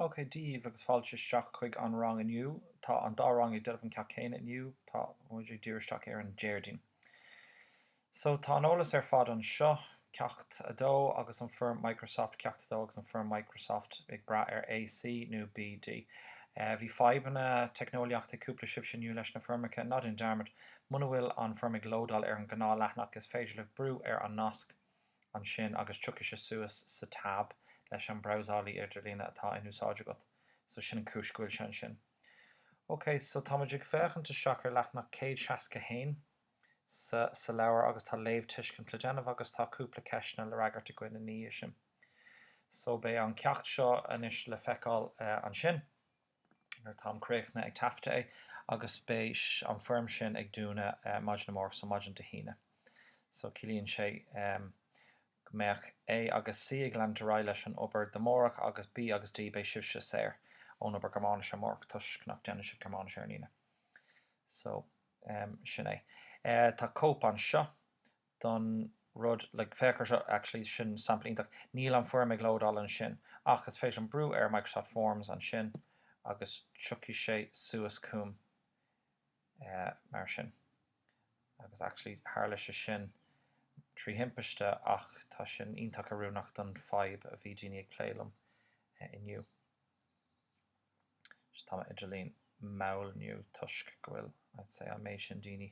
OK daoibh agus fáilte isteach chuig an rang inniu. Tá an dá rang ag dul i mbun an ceacht céanna inniu, tá muid ag díriú isteach ar an Déardaoin. So tá an eolas ar fad anseo, Ceacht 2 agus an foirm Microsoft, Ceacht 2 agus an foirm Microsoft ag braith ar AC nó BD. Bhí fadhbanna teicneolaíochta cúpla sibhse inniu leis na foirmeacha, ná déan dearmad, muna bhfuil an foirm ag lódáil ar an gnáthleathanach is féidir libh brú ar an nasc, ansin agus tiocfaidh sé suas sa tab leis an brabhsálaí idirlíne atá in úsáid agat, so sin an cúis go bhfuil sé ansin. Ok, so tá muid ag féachaint isteach ar leathanach 161 sa sa leabhar agus tá léamhthuiscint le déanamh agus tá cúpla ceisteanna le fhreagairt againn ina dhiaidh sin. So beidh an ceacht seo anois le feiceáil ansin. nuair atáim críochnaithe ag taifeadadh é agus beidh an foirm sin ag dúnadh maidin amárach, so maidin Dé hAoine. So ciallaíonn sé go mbeidh A agus C ag leanúint ar aghaidh leis an obair do amárach agus B agus D beidh sibhse saor ón obair Gearmáinise amárach toisc nach déanann sibh Gearmáinis ar an Aoine. So sin é. Tá cóip anseo don rud, like, féach ar seo, actually, sin sampla iontach, níl an foirm ag lódáil ansin, ach is féidir liom brú ar Microsoft Forms ansin agus tiocfaidh sé suas chugam mar sin, agus actually tharla sé sin trí thimpiste ach tá sin iontach oiriúnach don fhadhb a bhí daoine ag plé liom inniu. Tá m'idirlíon mall inniu toisc go bhfuil, I'd say, an méid sin daoine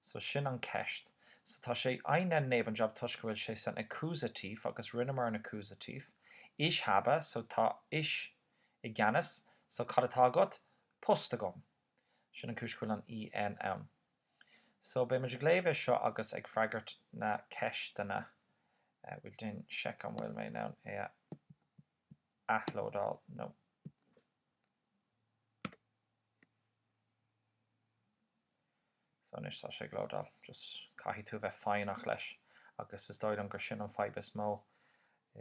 So sin an ceist. So tá sé einen Nebenjob toisc go bhfuil sé san accusative agus rinneamar an accusative. Ich habe, so tá Ich i gceannas, so cad atá agat? Post agam. Sin an cúis go bhfuil an EN ann. So beidh muid ag léamh é seo agus ag freagairt na ceisteanna. Bhuel déan seic an bhfuil mé in ann é a athlódáil nó. So anois tá sé ag lódáil. Just caithfidh tú a bheith foighneach leis agus is dóigh liom gur sin an fadhb is mó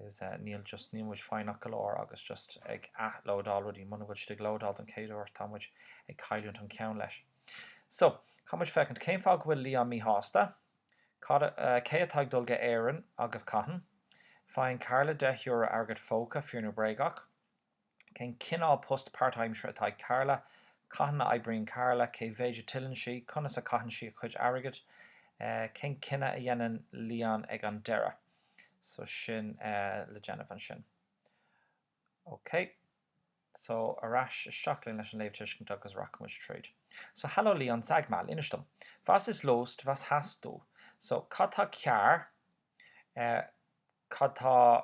is níl just, níl muid foighneach go leor agus just ag athlódáil rudaí, muna bhfuil siad ag lódáil don chéad uair tá muid ag cailliúint an ceann leis. So, caithfidh muid féachaint cén fáth go bhfuil Leon míshásta, cad a, cé atá ag dul go Éirinn agus cathain. Faigheann Carla 10 euro airgead póca, fíor nó bréagach? Cén cineál post páirtaimsire atá ag Carla? Cathain a oibríonn Carla? Cé mhéid a tuilleann sí? Conas a chaitheann sí a cuid airgid? Cén cinneadh a dhéanann Leon ag an deireadh? So sin le déanamh ansin. Ok. So ar ais isteach linn leis an léamhthuiscint agus rachaimid tríd. So hello Leon, Sag mal, inis dom, was ist los, was hast du? So cad atá cearr? Cad atá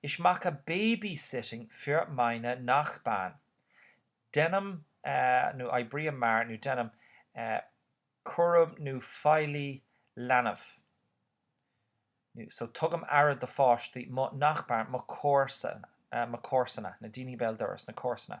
Ich mache Babysitting für meine Nachbarn. Deinim nó oibrím mar nó deinim cúram nó feighlí leanbh so tugaim aire do pháistí mo Nachbarn mo chomharsana, na daoine béal dorais, na comharsana.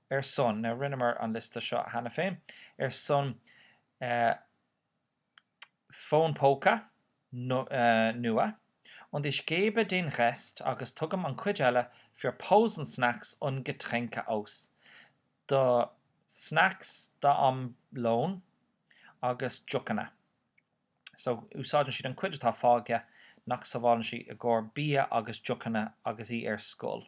ar son, now rinneamar an liosta seo cheana féin, ar son fón póca nua und ich gebe den Rest agus tugaim an chuid eile für Pausensnacks und Getränke aus, do snacks d'am lóin agus deochanna. So úsáideann sí an chuid atá fágtha nach sábhálann sí i gcomhair bia agus deochanna agus í ar scoil.